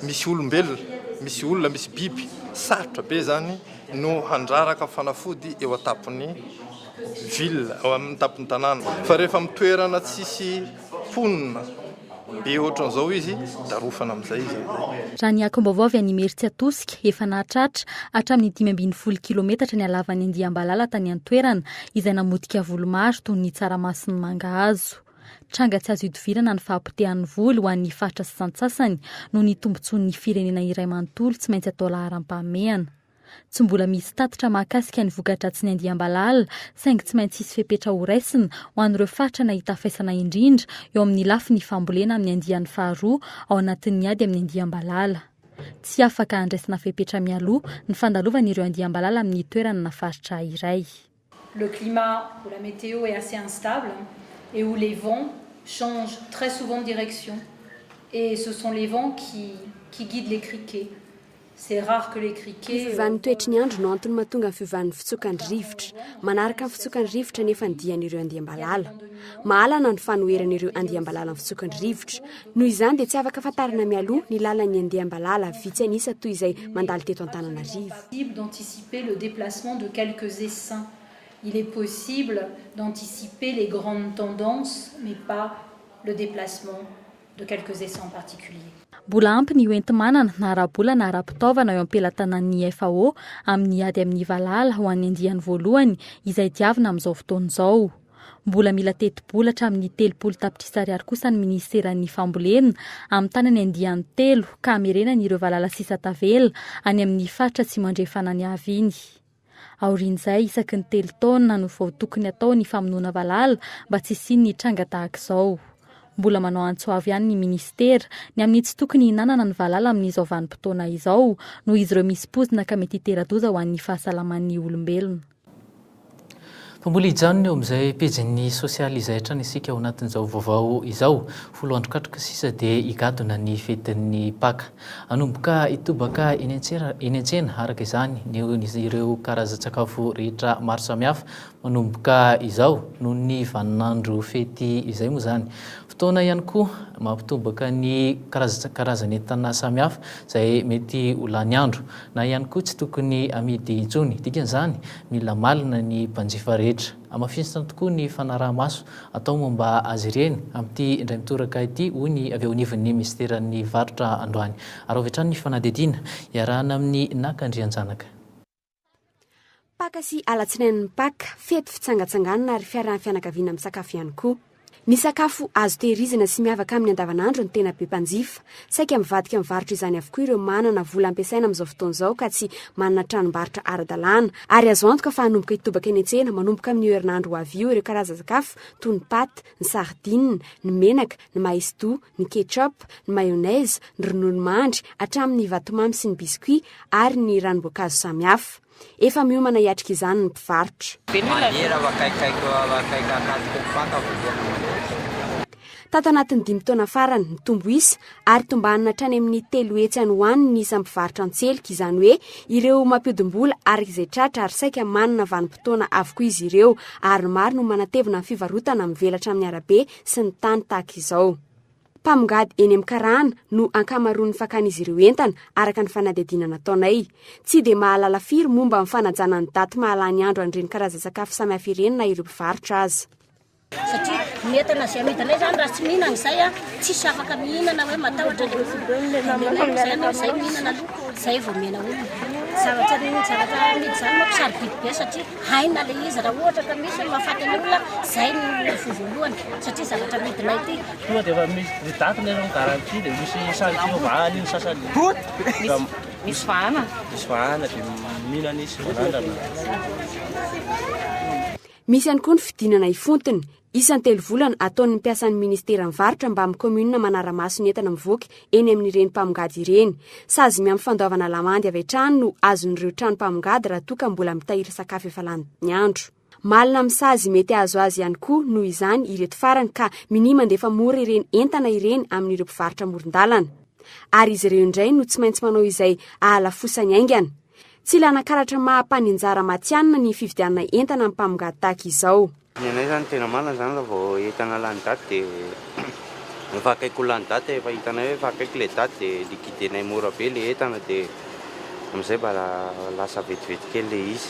misy olombelona, misy olona, misy biby, sarotra be izany no handraraka fanafody eo an-tampon'ny ville, eo amin'ny tampon'ny tanàna. Fa rehefa amin'ny toerana tsisy mponina be ohatran'izao izy, darofana amin'izay izy amin'izay. Raha ny angom-baovao avy any Imerintsiatosika, efa nahatratra hatramin'ny dimy ambin'ny folo kilometatra ny halavan'ny andiam-balala tany an-toerana, izay namotika voly maro toy ny tsaramaso sy ny mangahazo. Tranga tsy azo idivirana ny fahapotehan'ny voly ho an'ny faritra sasantsasany noho ny tombontsoan'ny firenena iray manontolo tsy maintsy atao laharam-pahamehana. Tsy mbola misy tatitra mahakasika ny voka-dratsin'ny andiam-balala saingy tsy maintsy hisy fepetra horaisina ho an'ireo faritra nahita faisana indrindra eo amin'ny lafiny fambolena amin'ny andiany faharoa ao anatin'ny ady amin'ny andiam-balala. Tsy afaka handraisana fepetra mialoha ny fandalovan'ireo andiam-balala amin'ny toerana na faritra iray. Le climat ou la météo est assez instable et où les vents changent très souvent de direction et ce sont les vents qui qui guident les criquets. C'est rare que les criquets. Ny fiovan'ny toetry ny andro no antony mahatonga ny fiovan'ny fitsokan'ny rivotra. Manaraka ny fitsokan'ny rivotra anefa ny dian'ireo andiam-balala. Mahalana ny fanoheran'ireo andiam-balala ny fitsokan'ny rivotra. Noho izany dia tsy afaka fantarina mialoha ny lalan'ny andiam-balala vitsy an'isa toy izay mandalo teto Antananarivo. possible d'anticiper le déplacement de quelques essaims, il est possible d'anticiper les grandes tendances mais pas le déplacement de quelques essaims en particulier. Mbola ampy ny hoenti-manana na ara-bola na ara-pitaovana eo am-pelatanan'ny FAO amin'ny ady amin'ny valala ho an'ny andiany voalohany izay diavina amin'izao fotoana izao. Mbola mila tetibola hatramin'ny telopolo tapitrisa ariary kosa ny minisiteran'ny Fambolena, amin'ny tanany andiany telo, ka hamerenany ireo valala sisa tavela any amin'ny faritra Atsimo Andrefana niaviany. Aorian'izay, isaky ny telo taona no vao tokony hatao ny famonoana valala mba tsy hisian'ny tranga tahaka izao. Mbola manao antso avo ihany ny minisitera ny amin'ny tsy tokony hihinanana ny valala amin'izao vanim-potoana izao, noho izy ireo misy poizina ka mety hitera-doza ho an'ny fahasalaman'ny olombelona. Fa mbola hijanona eo amin'izay pejin'ny sosialy izay hatrany isika ao anatin'izao vaovao izao. Folo andro katroka sisa dia higadona ny fetin'ny Paka. Hanomboka hitobaka eny an-tsena araka izany ny ireo karazan-tsakafo rehetra maro samihafa manomboka izao noho ny vaninandro fety izay moa izany. Fotoana ihany koa mampitobaka ny karazan'entana samihafa izay mety ho lany andro, na ihany koa tsy tokony amidy intsony. Dikan'izany, mila malina ny mpanjifa rehetra. Hamafisina tokoa ny fanaraha-maso atao momba azy ireny amin'ity indray mitoraka ity, hoy ny avy eo anivon'ny minisiteran'ny varotra androany. Araho avy hatrany ny fanadihadiana, iarahana amin'ny Naka Andrianjanaka. Paka sy alatsinain'ny Paka, fety fitsangatsanganana ary fiarahan'ny fianakaviana misakafo ihany koa. Ny sakafo azo tehirizina sy miavaka amin'ny andavanandro no tena be mpanjifa. Saika mivadika amin'ny varotra izany avokoa ireo manana vola ampiasaina amin'izao fotoana izao ka tsy manana tranombarotra ara-dalàna. Ary azo antoka fa hanomboka hitobaka eny an-tsena manomboka amin'io herinandro ho avy io ireo karazan-tsakafo toy ny pâtes, ny sardines, ny menaka, ny maïs doux, ny ketchup, ny mayonnaise, ny ronono mandry, hatramin'ny vatomamy sy ny biscuits ary ny ranom-boankazo samihafa. Efa miomana hiatrika izany ny mpivarotra. Tato anatin'ny dimy taona farany, nitombo isa ary tombanina hatrany amin'ny telo hetsy any ho any ny isan'ny mpivarotra an-tselika, izany hoe ireo mampihodim-bola araka izay tratra ary saika manana vanim-potoana avokoa izy ireo, ary maro no manatevina ny fivarotana mivelatra amin'ny arabe sy ny tany tahaka izao. Mpamongady eny amin'ny karana no ankamaroan'ny fakan'izy ireo entana, araka ny fanadihadiana nataonay. Tsy dia mahalala firy momba ny fanajana ny daty mahalany andro an'ireny karazan-tsakafo samihafa ireny na ireo mpivarotra aza. Satria ny entana izay amidinay izany raha tsy mihinana izay, tsisy afaka mihinana hoe matahotra ilay olona. Izay ianao izay mihinana aloha, izay vao omena olona. Zavatra ny zavatra amidy izany manko sarobidy be satria. Haina le izy raha ohatra ka misy mahafaty ny olona zay no fo voalohany satria zavatra midina ity. Tonga dia efa misy ny date ilay ny garantie dia misy sary Jehovah any ny sasany. Misy vahana. Misy vahana dia mila ny sy manandrana. Misy ihany koa ny fidinana ifotony. Isan-telo volana, ataon'ny mpiasan'ny Ministera ny varotra mbamin'ny kaominina manara-maso ny entana mivoaka eny amin'ireny mpamongady ireny. Sazy miampy fandoavana lamandy avy hatrany no azon'ireo trano mpamongady raha toa ka mbola mitahiry sakafo efa lany ny andro. Malina amin'ny sazy mety hahazo azy ihany koa, noho izany, ireto farany ka minia mandefa mora ireny entana ireny amin'ireo mpivarotra amoron-dalana. Ary izy ireo indray no tsy maintsy manao izay ahalafosany haingana. Tsy ilana karatra maha-mpaninjara matihanina ny fividianana entana amin'ny mpamongady tahaka izao. Ny anay zany tena marina zany raha vao entana lany daty dia efa akaiky ho lany daty efa hitanay hoe efa akaiky ilay daty dia liquidenay mora be ilay entana dia amin'izay mba lasa vetivety kely ilay izy.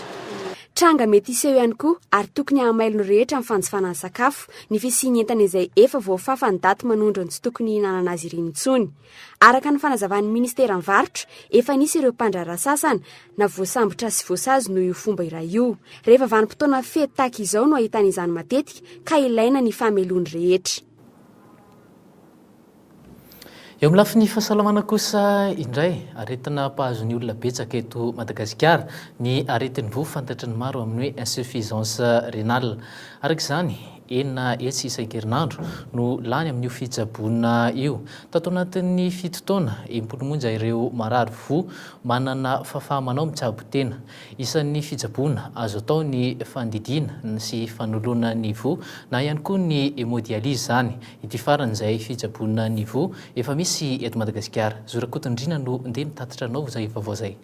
Tranga mety hiseho ihany koa ary tokony hahamailo ny rehetra ny fanjifana ny sakafo ny fisian'ny entana izay efa voafafa ny daty manondro ny tsy tokony hihinanana azy ireny intsony. Araka ny fanazavan'ny Ministeran'ny Varotra, efa nisy ireo mpandraharaha sasany, na voasambotra sy voasazy noho io fomba iray io. Rehefa vanim-potoana fety tahaka izao no ahitana izany matetika ka ilaina ny famelohany rehetra. Eo amin'ny lafiny fahasalamana kosa indray, aretina mpahazo ny olona betsaka eto Madagasikara ny aretin-doha fantatry ny maro amin'ny hoe insuffisance rénale. Araka izany, Enina hetsy isan-kerinandro no lany amin'io fitsaboana io. Tato anatin'ny fito taona, impolo monja ireo marary voa manana fahafaha-manao mitsabo tena. Isan'ny fitsaboana azo atao ny fandidiana sy fanoloana ny voa na ihany koa ny hémodialyse izany. Ity farany izay fitsaboana ny voa efa misy eto Madagasikara. Zo Rakotondriana no ndeha nitatitra anao izay vaovao izay.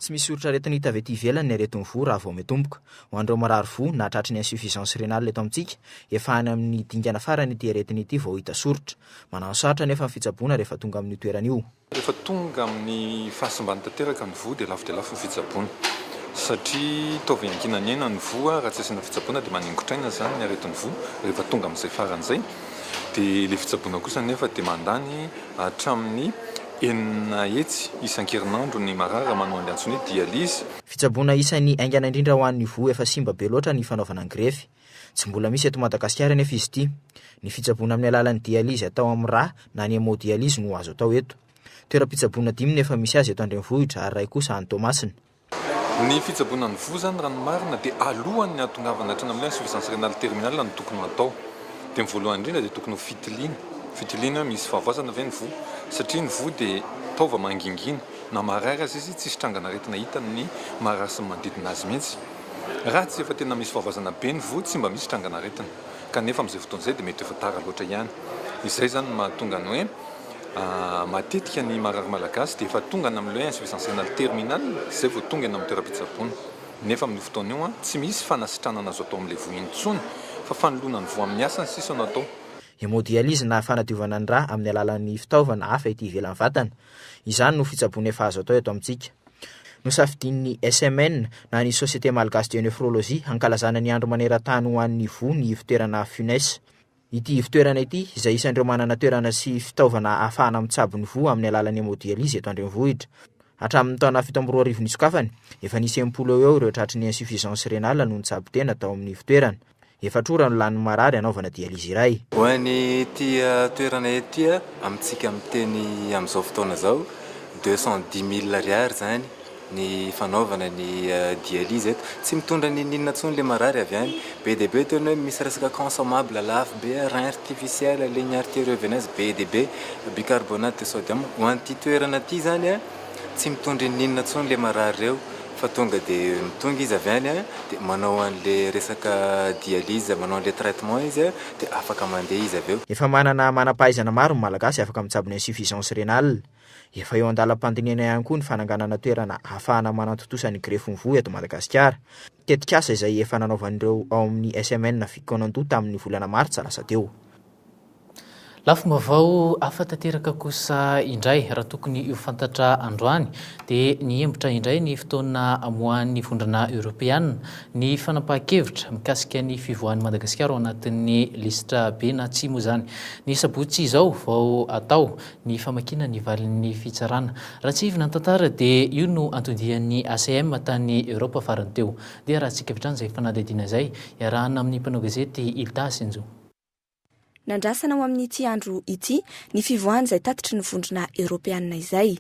Tsy misy soritra aretina hita avy ety ivelany ny aretin'ny voa raha vao mitomboka. Ho an'ireo marary voa na tratry ny insuffisance rénale eto amintsika, efa any amin'ny dingana farany ity aretina ity vao hita soritra. Manano sarotra anefa ny fitsaboana rehefa tonga amin'io toerana io. Rehefa tonga amin'ny fahasimbany tanteraka ny voa dia lafo dia lafo ny fitsaboana satria toa avy hanginany aina ny voa, raha tsy asiana fitsaboana dia maningotr'aina izany ny aretin'ny voa rehefa tonga amin'izay faran'izay dia ilay fitsaboana kosa anefa dia mandany hatramin'ny Enina hetsy isan-kerinandro ny marary manao an'ilay antsoina hoe dialyse. Fitsaboana isan'ny haingana indrindra ho an'ny voa efa simba be loatra ny fanaovana ny grefy. Tsy mbola misy eto Madagasikara anefa izy ity. Ny fitsaboana amin'ny alalan'ny dialyse atao amin'ny rà na ny hémodialyse no azo atao eto. Toeram-pitsaboana dimy no efa misy azy eto an-drenivohitra ary iray kosa any Toamasina. Ny fitsaboana ny voa izany raha ny marina dia alohan ny hahatongavana hatrany amin'ny insuffisance rénale terminale no tokony ho atao. Dia ny voalohany indrindra dia tokony ho fitiliana, fitiliana hoe misy fahavoazana ve ny voa satria ny voa dia taova mangingina na marary aza izy tsisy trangan'aretina hitany ny marary sy ny manodidina azy mihitsy. Raha tsy efa tena misy fahavoazana be ny voa tsy mba misy trangan'aretina kanefa amin'izay fotoana izay dia mety efa tara loatra ihany. Izay izany no mahatonga ny hoe. Matetika ny marary malagasy dia efa tonga any amin'ilay insuffisance rénale terminale izay vao tonga eny amin'ny toeram-pitsaboana. Nefa amin'io fotoana io, tsy misy fanasitranana azo atao amin'ilay voa iny intsony fa fanoloana ny voa amin'ny hasiny sisa no atao. Hémodialyse na fanadiovana ny rà amin'ny alalan'ny fitaovana hafa ety ivelan'ny vatana. Izany no fitsaboana efa azo atao eto amintsika. Nosafidian'ny SMN na ny Société Malgache de Nephrologie hankalazana ny andro maneran-tany ho an'ny voa ny ivo-toerana Funes. Ity ivon-toerana ity, izay isan'ireo manana toerana sy fitaovana ahafahana mitsabo ny voa amin'ny alalan'ny hemodialyse eto an-drenivohitra. Hatramin'ny taona fito amby roa arivo nisokafany, efa nisy enimpolo eo eo ireo tratry ny insuffisance rénale no nitsabo tena tao amin'ny ivon-toerana. Efatra ora no lanin'ny marary hanaovana dialyse iray. Ho an'ity toerana ity, amintsika miteny amin'izao fotoana izao, deux cent dix mille ariary izany ny fanaovana ny dialyse eto tsy mitondra ninoninona tsony le marary avy any be de be teo ny hoe misy resaka consommable lafo be rein artificiel ligne arterio veineuse be de be bicarbonate de sodium ho an'ity toerana ity zany a tsy mitondra inoninona tsony le marary reo fa tonga de mitonga izy avy any a de manao an'le resaka dialyse manao an'le traitement izy a de afaka mandeha izy avy eo. Efa manana manam-pahaizana maro ny Malagasy afaka mitsabo ny insuffisance rénale. Efa eo an-dalam-pandinihana ihany koa ny fananganana toerana ahafahana manantontosa ny grefin'ny voa eto Madagasikara. Tetikasa izay efa nanaovan'ireo ao amin'ny SMN Fikonandoha tamin'ny volana martsa lasa teo. Lafim-baovao hafa tanteraka kosa indray, raha tokony ho fantatra androany, dia nihembotra indray ny fotoana hamoahan'ny Vondrona Eoropeana ny fanapahan-kevitra mikasika ny fivoahan'i Madagasikara ao anatin'ny lisitra be na tsy moa izany ny sabotsy izao vao atao ny famakiana ny valin'ny fitsarana. Raha tsihivina ny tantara dia io no antodian'ny ACM tany Europe farany teo. Dia raha tsika avy hatrany izay fanadihadiana izay, iarahana amin'ny mpanao gazety Ilta sy Njo. Nandrasana ho amin'ity andro ity ny fivoahan'izay tatitry ny vondrona Eoropeana izay.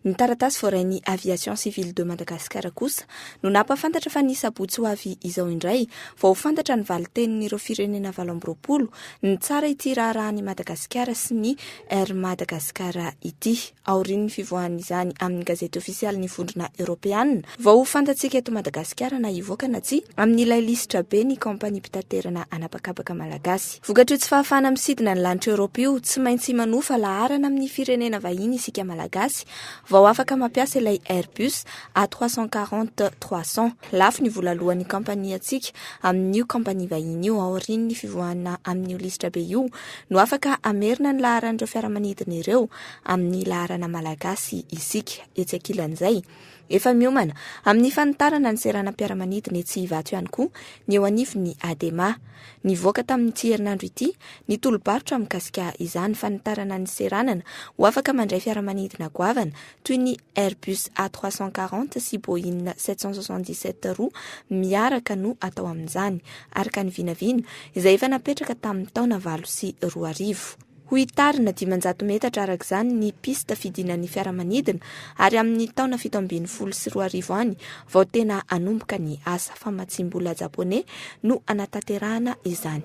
Ny taratasy voarain'ny Aviation Civile de Madagascar kosa no nampahafantatra fa ny sabotsy ho avy izao indray vao ho fantatra ny valintenin'ireo firenena valo amby roapolo nitsara ity raharahan'i Madagasikara sy ny Air Madagascar ity. Aorian'ny fivoahan'izany amin'ny gazety ofisialin'ny Vondrona Eoropeana vao ho fantatsika eto Madagasikara na hivoaka na tsia amin'ilay lisitra be ny kaompania mpitaterana an'habakabaka malagasy. Vokatr'io tsy fahafahana misidina ny lanitra Europe io, tsy maintsy manofa laharana amin'ny firenena vahiny isika Malagasy vao afaka mampiasa ilay Airbus A trois cent quarante trois cent. Lafo ny vola aloan'ny kampaniantsika amin'io kampania vahiny io, aorian'ny fivoahana amin'io lisitra be io no afaka hamerina ny laharan'ireo fiaramanidina ireo amin'ny laharana Malagasy isika. Etsy ankilan'izay, Efa miomana amin'ny fanitarana ny seranam-piaramanidina etsy Ivato ihany koa ny eo anivon'ny Adema. Nivoaka tamin'ity herinandro ity ny tolo-barotra mikasika izany fanitarana ny seranana ho afaka mandray fiaramanidina goavana toy ny Airbus A trois cent quarante sy Boeing sept cent soixante-dix-sept roa miaraka no atao amin'izany, araka ny vinavina izay efa napetraka tamin'ny taona valo sy roa arivo. Ho hitarina dimanjato metatra araka izany ny piste fidinan'ny fiaramanidina ary amin'ny taona fito ambin'ny folo sy roa arivo any vao tena hanomboka ny asa famatsiam-bola japoney no hanatanterahana izany.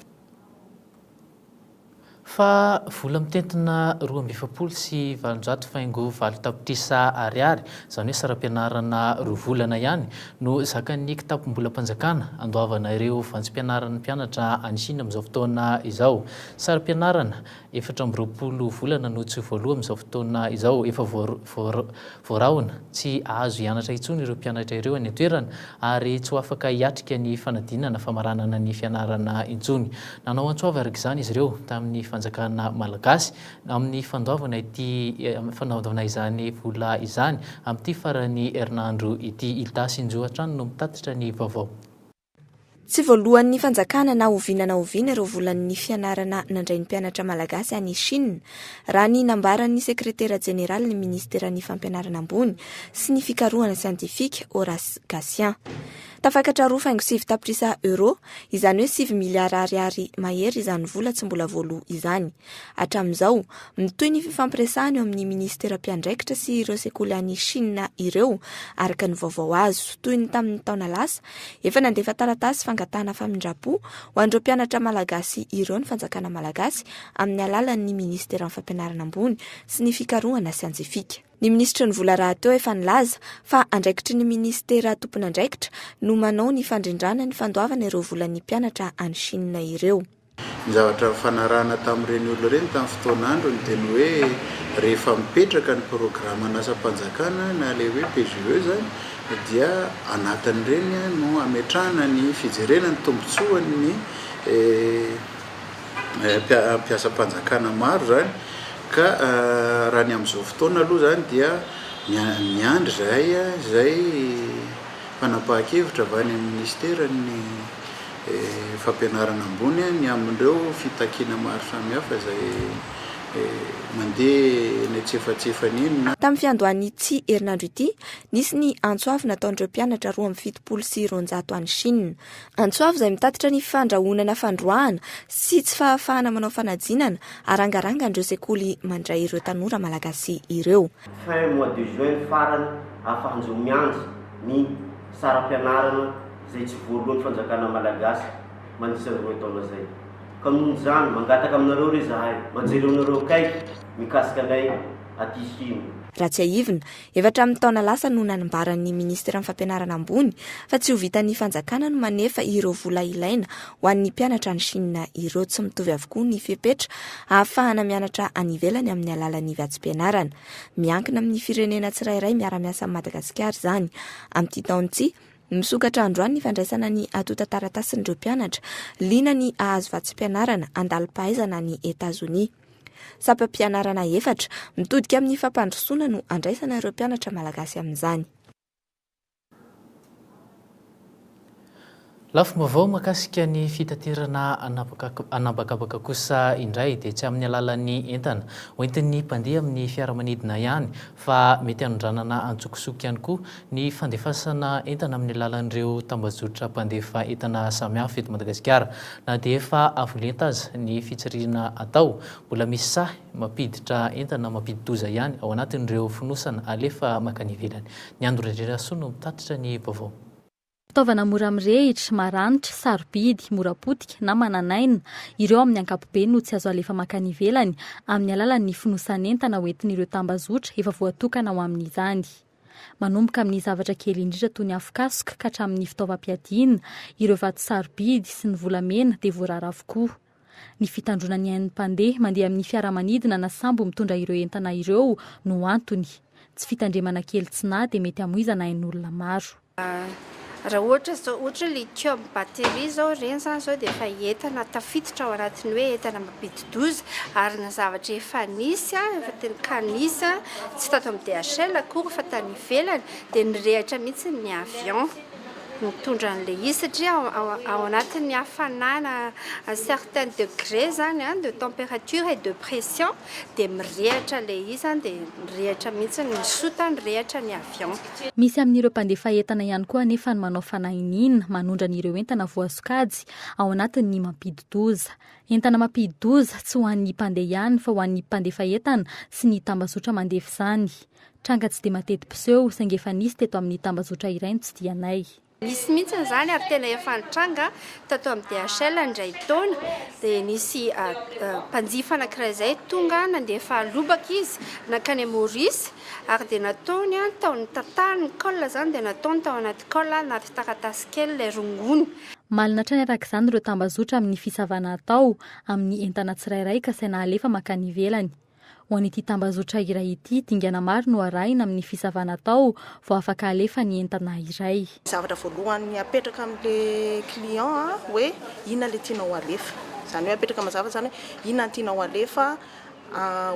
Fa vola mitentina roa amby efapolo sy valonjato faingo valo tapitrisa ariary, izany hoe saram-pianarana roa volana ihany, no zakan'ny kitapom-bolam-panjakana handoavana ireo vantsim-pianaran'ny mpianatra any Shina amin'izao fotoana izao. Sarim-pianarana, efatra amby roapolo volana no tsy voaloa amin'izao fotoana izao. Efa voarahona tsy hahazo hianatra intsony ireo mpianatra ireo any an-toerana ary tsy ho afaka hiatrika ny fanadinana famaranana ny fianarana intsony. Nanao antso avy araka izany izy ireo tamin'ny fanjakana malagasy amin'ny fandoavana ity fandoavana izany vola izany amin'ity faran'ny herinandro ity. I Dasinjo hatrany no mitatitra ny vaovao. Tsy voalohan'ny fanjakana na oviana na oviana ireo volan'ny fianarana nandray ny mpianatra malagasy any Chine, raha ny nambaran'ny sekretera jeneralin'ny minisiteran'ny Fampianarana ambony sy ny fikarohana siantifika, Horace Gasian. Tafakatra roa faingo sivy tapitrisa euros, izany hoe sivy miliara ariary mahery izany vola tsy mbola voaloa izany. Hatramin'izao, mitohy ny fifampiresahana eo amin'ny minisitera mpiandraikitra sy ireo sekoly any Chine ireo, araka ny vaovao azo, toy ny tamin'ny taona lasa, Efa nandefa taratasy fangatahana famindram-po ho an'ireo mpianatra malagasy ireo ny fanjakana malagasy amin'ny alalan'ny Ministeran'ny Fampianarana ambony sy ny fikarohana siantifika. Ny minisitry ny vola rahateo efa nilaza fa andraikitry ny ministera tompon'andraikitra no manao ny fandrindrana ny fandoavana ireo volan'ny mpianatra any Chine ireo. Ny zavatra nifanarahana tamin'ireny olona ireny tamin'ny fotoan'androny dia ny hoe rehefa mipetraka ny programan'asam-panjakana na ilay hoe PGE izany dia anatin'ireny no hametrahana ny fijerena ny tombontsoan'ny mpiasam-panjakana maro izany ka raha ny amin'izao fotoana aloha izany dia miandry izahay izay fanapahan-kevitra avy any amin'ny minisitera ny fampianarana ambony ny amin'ireo fitakiana maro samihafa izay mandeha eny antsefatsefany eny na. Tamin'ny fiandohan'ity herinandro ity, nisy ny antso avo nataon'ireo mpianatra roa amby fitopolo sy roanjato any Chine. Antso avo izay mitatitra ny fandrahonana fandroahana sy tsy fahafahana manao fanadinana arangarangan'ireo sekoly mandray ireo tanora malagasy ireo. Fin mois de juin farany afa-hanjo miandry ny saram-pianarana. izay tsy voalohan'ny fanjakana malagasy mandritra ny roe taona izay. Ka noho izany, mangataka aminareo re izahay mba jereonareo akaiky mikasika anay aty hino. Raha tsiahivina, efa hatramin'ny taona lasa no nanambaran'ny Minisiteran'ny Fampianarana ambony fa tsy ho vitan'ny fanjakana ny manefa ireo vola ilaina ho an'ny mpianatra any Chine ireo. Tsy mitovy avokoa ny fepetra ahafahana mianatra any ivelany amin'ny alalan'ny vatsim-pianarana. Miankina amin'ny firenena tsirairay miara-miasa amin'i Madagasikara izany amin'ity taona ity. Misokatra androany ny fandraisana ny antontan-taratasin'ireo mpianatra liana ny hahazo vatsim-pianarana andalim-pahaizana any Etazonia. Sampam-pianarana efatra, mitodika amin'ny fampandrosoana no andraisana ireo mpianatra malagasy amin'izany. Lafim-baovao mahakasika ny fitaterana an'habakabaka kosa indray dia tsy amin'ny alalan'ny entana hoentin'ny mpandeha amin'ny fiaramanidina ihany fa mety hanondranana an-tsokosoko ihany koa ny fandefasana entana amin'ny alalan'ireo tambajotra mpandefa entana samihafa eto Madagasikara. Na dia efa avo lenta aza ny fitsirihina atao, mbola misy sahy mampiditra entana mampidi-doza ihany ao anatin'ireo fonosana alefa mankany ivelany. Ny Andro Randrianasoa no mitatitra ny vaovao. Fitaovana mora mirehitra, maranitra, sarobidy, mora potika na manan'aina, ireo amin'ny ankapobeny no tsy azo alefa mankany ivelany amin'ny alalan'ny fonosan'entana hoentin'ireo tambazotra efa voatokana ho amin'izany. Manomboka amin'ny zavatra kely indrindra toy ny afokasoka ka hatramin'ny fitaovam-piadiana, ireo vato sarobidy sy ny volamena dia voarara avokoa. Ny fitandroana ny ain'ny mpandeha mandeha amin'ny fiaramanidina na sambo mitondra ireo entana ireo no antony. Tsy fitandremana kely tsy nahy dia mety hamoizana ain'olona maro. Raha ohatra izao, ohatra hoe lithium batterie izao, ireny izany izao dia efa entana tafiditra ao anatin'ny hoe entana mampidi-doza ary ny zavatra efa nisy, efa teny ka nisy, tsy tato amin'ny DHL akory fa tany ivelany dia nirehitra mihitsy ny avion. Mitondra an'ilay izy satria ao anatin'ny hafanana à certain degré zany de température et de pression dia mirehatra ilay izy zany dia mirehatra mihitsy ny sota mirehatra ny avion. Misy amin'ireo mpandefa entana ihany koa anefa ny manao fanahiniana manondrana ireo entana voasokajy ao anatin'ny mampidi-doza. Entana mampidi-doza tsy ho an'ny mpandeha ihany fa ho an'ny mpandefa entana sy ny tambazotra mandefa izany. Tranga tsy dia mateti-piseho, saingy efa nisy teto amin'ny tambajotra iray ny tsidihanay. Nisy mihitsy izany ary tena efa nitranga tato amin'ny DHL indray taona, dia nisy mpanjifa anankiray izay tonga nandefa lobaka izy nankany Maurice ary dia nataony tao nitatahany ny col izany dia nataony tao anaty col anaty taratasy kely ilay rongony. Malina hatrany araka izany ireo tambazotra amin'ny fisavana atao amin'ny entana tsirairay ka saina halefa mankany ivelany. Ho an'ity tambazotra iray ity, dingana maro no arahina amin'ny fisavana atao vao afaka alefa ny entana iray. Zavatra voalohany apetraka amin'ilay client hoe inona ilay tianao alefa. Izany hoe apetraka mazava izany hoe inona no tianao alefa,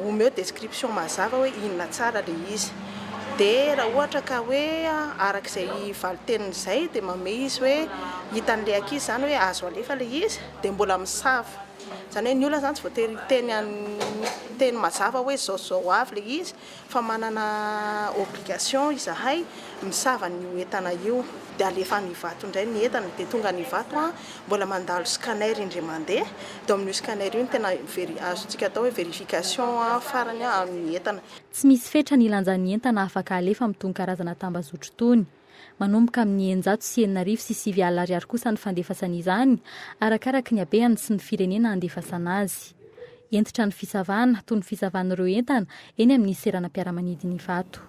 omeo description mazava hoe inona tsara ilay izy. Dia raha ohatra ka hoe araka izay valin-teniny izay dia manome izy hoe hitan'ilay ankizy izany hoe azo alefa ilay izy dia mbola misava. Izany hoe ny olona izany tsy voatery hiteny an'ny teny mazava hoe izao sy izao ho avy ilay izy fa manana obligation izahay misava an'io entana io dia alefa any Ivato indray ny entana dia tonga any Ivato an, mbola mandalo scanner indry mandeha dia ao amin'io scanner io no tena veri- azontsika atao hoe verification farany amin'ny entana. Tsy misy fetra ny lanjan'ny entana afaka alefa amin'itony karazana tambazotro itony. Manomboka amin'ny eninjato sy enina arivo sy sivy alina ariary kosa ny fandefasana izany, arakaraka ny habeany sy ny firenena handefasana azy. Hentitra ny fisavana, toy ny fisavan'ireo entana eny amin'ny seranam-piaramanidin'Ivato.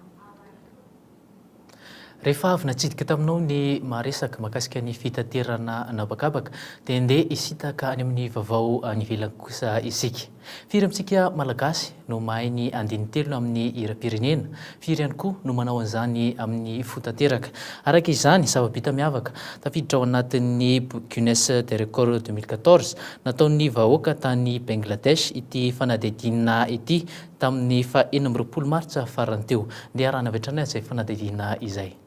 Rehefa avy natsidika taminao ny maharesaka mahakasika ny fitaterana an'habakabaka dia ndeha hisintaka any amin'ny vaovao any ivelany kosa isika. Firy amintsika Malagasy no mahay ny andinin-telony amin'ny hiram-pirenena? Firy ihany koa no manao an'izany amin'ny fo tanteraka? Araka izany, zava-bita miavaka tafiditra ao anatin'ny boky Guinness des Records deux mille quatorze nataon'ny vahoaka tany Bengladesh ity fanadihadiana ity tamin'ny faha enina amby roapolo Martsa farany teo. Ndeha harahana avy hatrany izay fanadihadiana izay.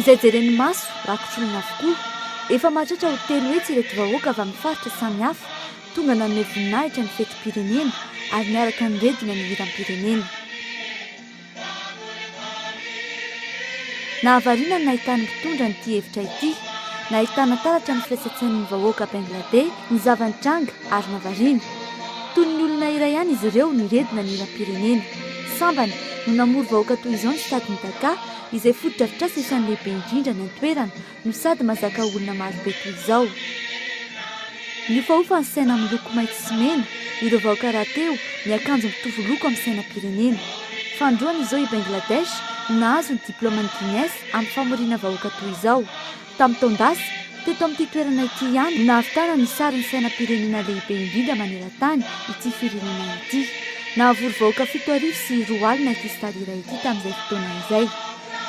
Izay jeren'ny maso, rakotr'olona avokoa. Efa mahatratra ho telo hetsy ireto vahoaka avy amin'ny faritra samihafa tonga nanome voninahitra ny fetim-pirenena ary niaraka niredona ny hiram-pirenena. Nahavariana ny nahitan'ny mpitondra an'ity efitra ity. Nahitana taratra ny firaisan-tsain'ny vahoaka Bengladey ny zava-nitranga ary nahavariana. Toy ny olona iray ihany izy ireo niredona ny hiram-pirenena. Sambany no namory vahoaka toy izao ny sitadin'i Dhaka, izay fotodrafitrasa isan'ny lehibe indrindra any an-toerana no sady mahazaka olona maro be toy izao. Mihofahofa ny saina amin'ny loko maitso sy mena ireo vahoaka rahateo miakanjo mitovy loko amin'ny sainam-pirenena. Fandroana izao i Bangladesh no nahazo ny diplaoman'ny Guinness amin'ny famoriana vahoaka toy izao. Tamin'ny taon-dasa, teto amin'ity toerana ity ihany no nahavitana ny sarin'ny sainam-pirenena lehibe indrindra maneran-tany ity firenena ity. Nahavory vahoaka fito arivo sy roa alina ity stade iray ity tamin'izay fotoana izay.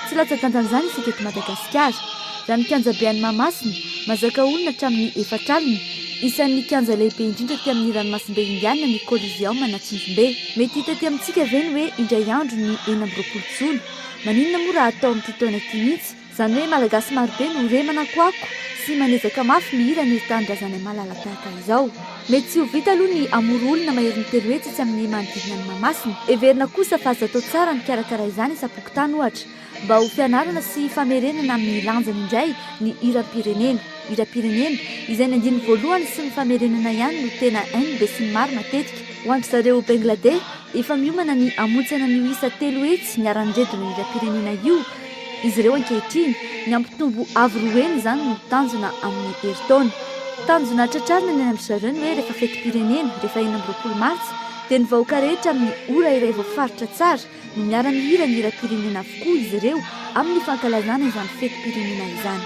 Tsy latsa-dantan'izany isika eto Madagasikara. Raha ny kianjabe any Mahamasina, mazaka olona hatramin'ny efatra alina. Isan'ny kianja lehibe indrindra aty amin'ny ranomasimbe Indiana ny Coliseum an'Antsinjombe. Mety hita aty amintsika ve ny hoe indray andro ny enina amby roapolo jona? Maninona moa raha hatao amin'ity taona ity mihitsy? Izany hoe Malagasy marobe no re manakoako sy manezaka mafy mihira ny tanindrazanay malala tahaka izao. Mety tsy ho vita aloha ny hamory olona maherin'ny telo hetsy etsy amin'ny manodidina an'i Mahamasina. Heverina kosa fa azo atao tsara ny mikarakara izany isam-pokontany ohatra mba ho fianarana sy famerenana amin'ny lanjany indray ny hiram-pirenena. Hiram-pirenena izay ny andininy voalohany sy ny famerenana ihany no tena hain'ny besinimaro matetika. Ho an-dry zareo Bengladeh, Efa miomana ny hamontsana an'io isa telo hetsy niharan'ireto lohiram-pirenena io izy ireo ankehitriny. Ny hampitombo avo roa heny izany no tanjona amin'ny herintaona. Tanjona tratrarina ny any amin-dry zareo ny hoe rehefa fetim-pirenena, rehefa enina amby roapolo martsa, dia ny vahoaka rehetra amin'ny ora iray voafaritra tsara no miara-mihira ny hiram-pirenena avokoa izy ireo amin'ny fankalazana izany fetim-pirenena izany.